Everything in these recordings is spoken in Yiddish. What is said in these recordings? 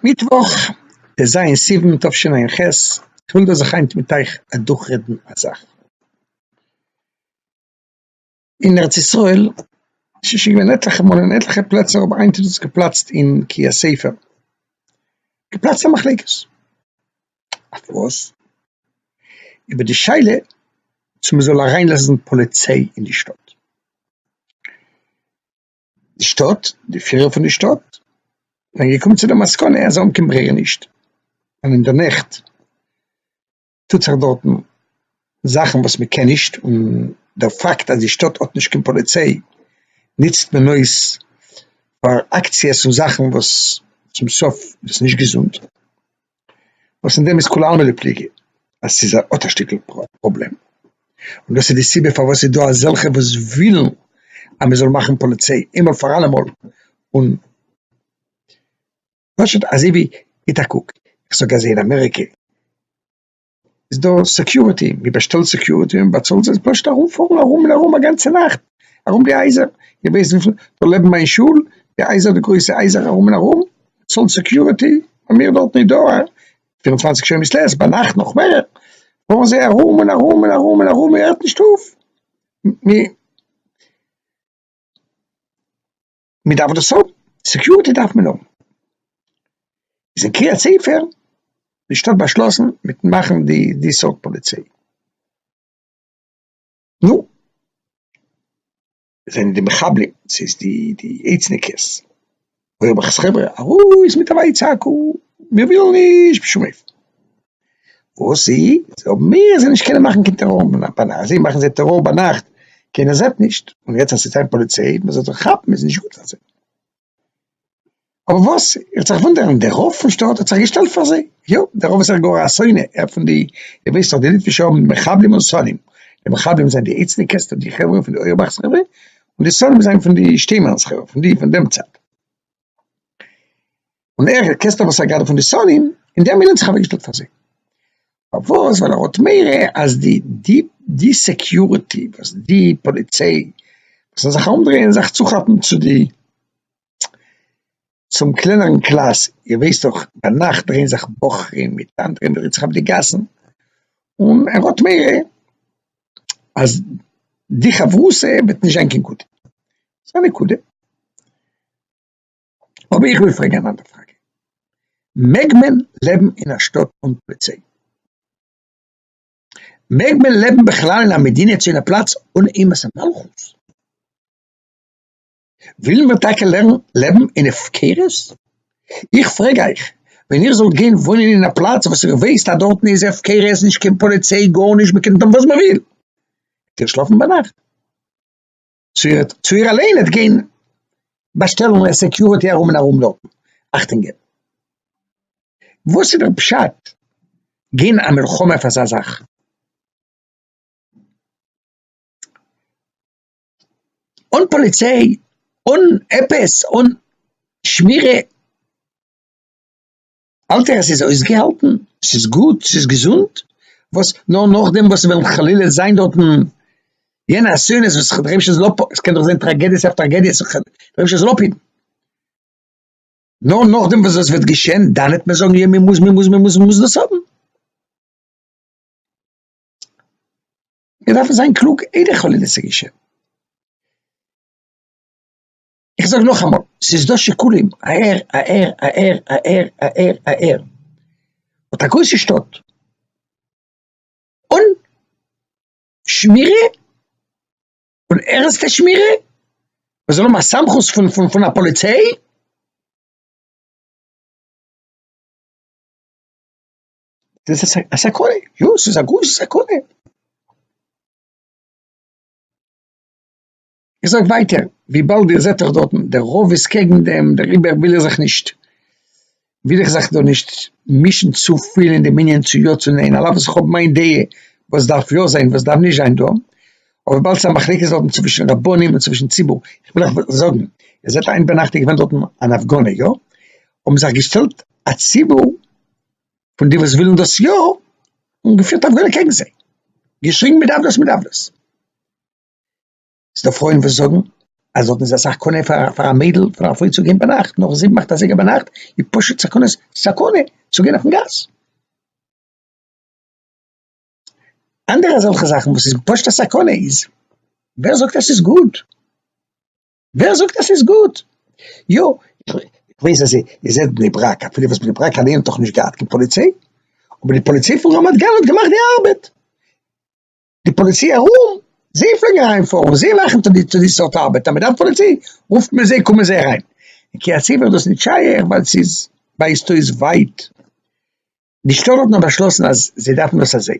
מיטוואך טז סיוון תשע"ח, איך וויל דא זיך היינט מיט אייך אדורכרעדן א זאך, אין ארץ ישראל ס'איז שוין געווען עטליכע מאל אין עטליכע פלעצער אבער היינט איז עס געפלאצט אין קריית ספר, געפלאצט א מחלוקת, אויף וואס? איבער די שאלה צו מ'זאל אריינלאזן פאליציי אין די שטאט. די שטאט, די פירער פון די שטאט זענען געקומען צו די מסקנא אז אנקען ברירה איז נישט, און אין די נעכט טוט זיך דארטן זאכן וואס מען קען נישט, און דער פאקט אז די שטאט האט נישט קיין פאליציי נוצט מען אויס פאר אקציעס און זאכן וואס צום סוף איז נישט געזונט. וואס אין דעם איז כולי עלמא דפליגי אז ס'איז א האט א שטיקל פראבלעם, און דאס איז די סיבה פארוואס ס'איז דא אזעלכע וואס ווילן אז מ'זאל מאכן פאליציי איינמאל פאר אלעמאל, און פשוט אזוי ווי, גיט א קוק, איך זאג אז אין אמעריקע. איז דא סעקיוריטי, מען באשטעלט סעקיוריטי און באצאלט זיי, פשוט ארומפארן ארום און ארום א גאנצע נאכט ארום די הייזער, איר ווייסט וויפיל דא לעבן מיין שול, די הייזער די גרויסע הייזער ארום און ארום, צאלט סעקיוריטי, האבן מיר דארט נישט דא א פיר און צוואנציג שעה מיט לעס, ביינאכט נאך מער, פארן זיי ארום און ארום און ארום און ארום, מען הערט נישט אויף. מען דארף דאס האבן, סעקיוריטי דארף מען האבן, איז אין קריית ספר די שטאט באשלאסן מיט מאכן די די סארט פאליציי, נו, זענען די מחבלים, ס'איז די די איד'ס'ניקעס, אוי האב איך עס חברה, ארויס מיט א ווייצעקו, מיר ווילן נישט בשום אופן. וואס איז אויב מיר זענען נישט קענען מאכן קיין טעראר ביינאכט, זיי מאכן זיי טעראר ביינאכט, קיינער זעט נישט, און יעצט אז ס'איז קיין פאליציי מען זאל זיי כאפן איז נישט גוט פאר זיי, אבער וואס איך זיך וואונדערן די רב פון שטאט האט זיך געשטעלט פאר זיי, יא די רב איז זיך גאר א שונא, ער פון די איר ווייסט דאך די ליטווישע האבן מחבלים און שונאים, די מחבלים זענען די איצטיקעס די חברה פון די אויערבאך'ס חברה, און די שונאים זענען פון די שטיינמאן'ס חברה פון די פון דעם צד. און ער קעסט אבער סאגאר פון די סאלים אין דעם מילן זיך אוועקגעשטעלט פאר זיי פארוואס ווייל ער האט מורא אז די די די סעקיורעטי וואס די פאליציי זאל זיך אנדרייען זיך צו כאפן צו די צום קלענערן קלאס איר ווייסט דאך ביינאכט דרייען זיך בחורים מיט אנדערע מיט זיך אויף די גאסן און ער האט מורא אז די חברותא וועט נישט זיין קיין גוטע, ס'איז א נקודה, אבער איך וויל פרעגן אן אנדער פראגע, מעג מען לעבן אין א שטאט אן פאליציי? מעג מען לעבן בכלל אין א מדינה צו אין א פלאץ אן אימת המלכות? ווילן מיר טאקע לעבן אין הפקרות? איך פרעג אייך, ווען איר זאלט גיין וואוינען אין א פלאץ וואס איר ווייסט אז דארטן איז הפקרות, נישט קיין פאליציי, גארנישט, מען קען טון וואס מען וויל, וועט איר שלאפן ביינאכט? צו איר אליין וועט גיין באשטעלן סעקיוריטי ארום און ארום דארטן אכטונג געבן? וואס איז דער פשט גיין א מלחמה אויף אזא זאך? אן פאליציי אן עפעס אן שמירה האלט ער עס איז אויסגעהאלטן ס'איז גוט ס'איז געזונט וואס נאר נאכדעם וואס וועלן חלילה זיין דארטן יענע אסונות וואס כ'האב דערהויבן שוין זאל אפ ס'קען דאך זיין טראגעדיעס אויף טראגעדיעס איך דערהויב שוין זאל אפהיטן נאר נאכדעם וואס דאס וועט געשען דאן העט מען זאגן יא מ'מוז מ'מוז מ'מוז מ'מוז דאס האבן. מיר דארפן זיין קלוג איידער חלילה צו געשען. איך זאג נאכאמאל, ס'איז דא שיקולים אהער אהער אהער אהער אהער אהער, האט א גרויסע שטאט אן שמירה, אן ערנסטע שמירה, מען זאל האבן א סמכות פון פון פון א פאליציי, דאס איז א סכנה, יא ס'איז א גרויסע סכנה. איך זאג ווייטער, וויבאלד איר זעט דאך דארטן, דער רוב איז קעגן דעם, דעריבער וויל איך זיך נישט, וויל איך זיך דא נישט מישן צופיל אין דעם ענין צו יא צו ניין, על אף וואס איך האב מיין דעה וואס דארף יא זיין וואס דארף נישט זיין דא, אבער וויבאלד ס'איז א מחלוקת דארטן צווישן רבנים און צווישן ציבור, איך וויל אייך זאגן, איר זעט איין ביינאכט איז געווען דארטן אן הפגנה, יא? האבן זיך געשטעלט א ציבור פון די וואס ווילן דאס יא, און געפירט הפגנה קעגן זיי, געשריגן מי דארף דאס מי דארף דאס. ס'דא פרויען וואס זאגן אז דארטן איז אסאך קנאה פאר א מיידל פון א פרוי צו גיין ביינאכט נאך זיבן אכט אזייגער ביינאכט, איז פשוט סכנת סכנה צו גיין אויפן גאס. אנדערע אזעלכע זאכן וואס איז פשוט א סכנה איז, ווער זאגט אז ס'איז גוט? ווער זאגט אז ס'איז גוט? יא, איך ווייס אז איר זענט בני ברק, אפילו וואס בני ברק אליין האט דאך נישט געהאט קיין פאליציי, אבער די פאליציי פון רמת גן האט געמאכט די ארבעט. די פאליציי ארום, זיי פלעגן אריינפארן, זיי מאכן טו די די סארט ארבעט, אז מ'דארף פאליציי, רופט מען זיי, קומען זיי אריין. אין קריית יואל איז דאס נישט שייך, ווייל ס'איז ווייזט אויס ווייט. די שטאט האט נאר באשלאסן אז זיי דארפן דאס אזוי.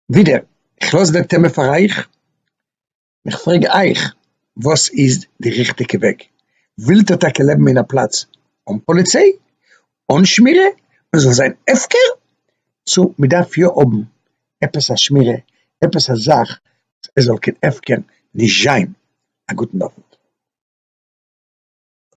ווידער, כ'לאז דער טעמע פאר אייך. איך פרעג אייך, וואס איז די ריכטיגע וועג? ווילט איר טאקע לעבן אין א פלאץ אן פאליציי, אן שמירה, מען זאל זיין הפקר? צו מען דארף יא האבן עפעס א שמירה, עפעס א זאך עס זאל קיין הפקר נישט זיין? א גוטן אווענט.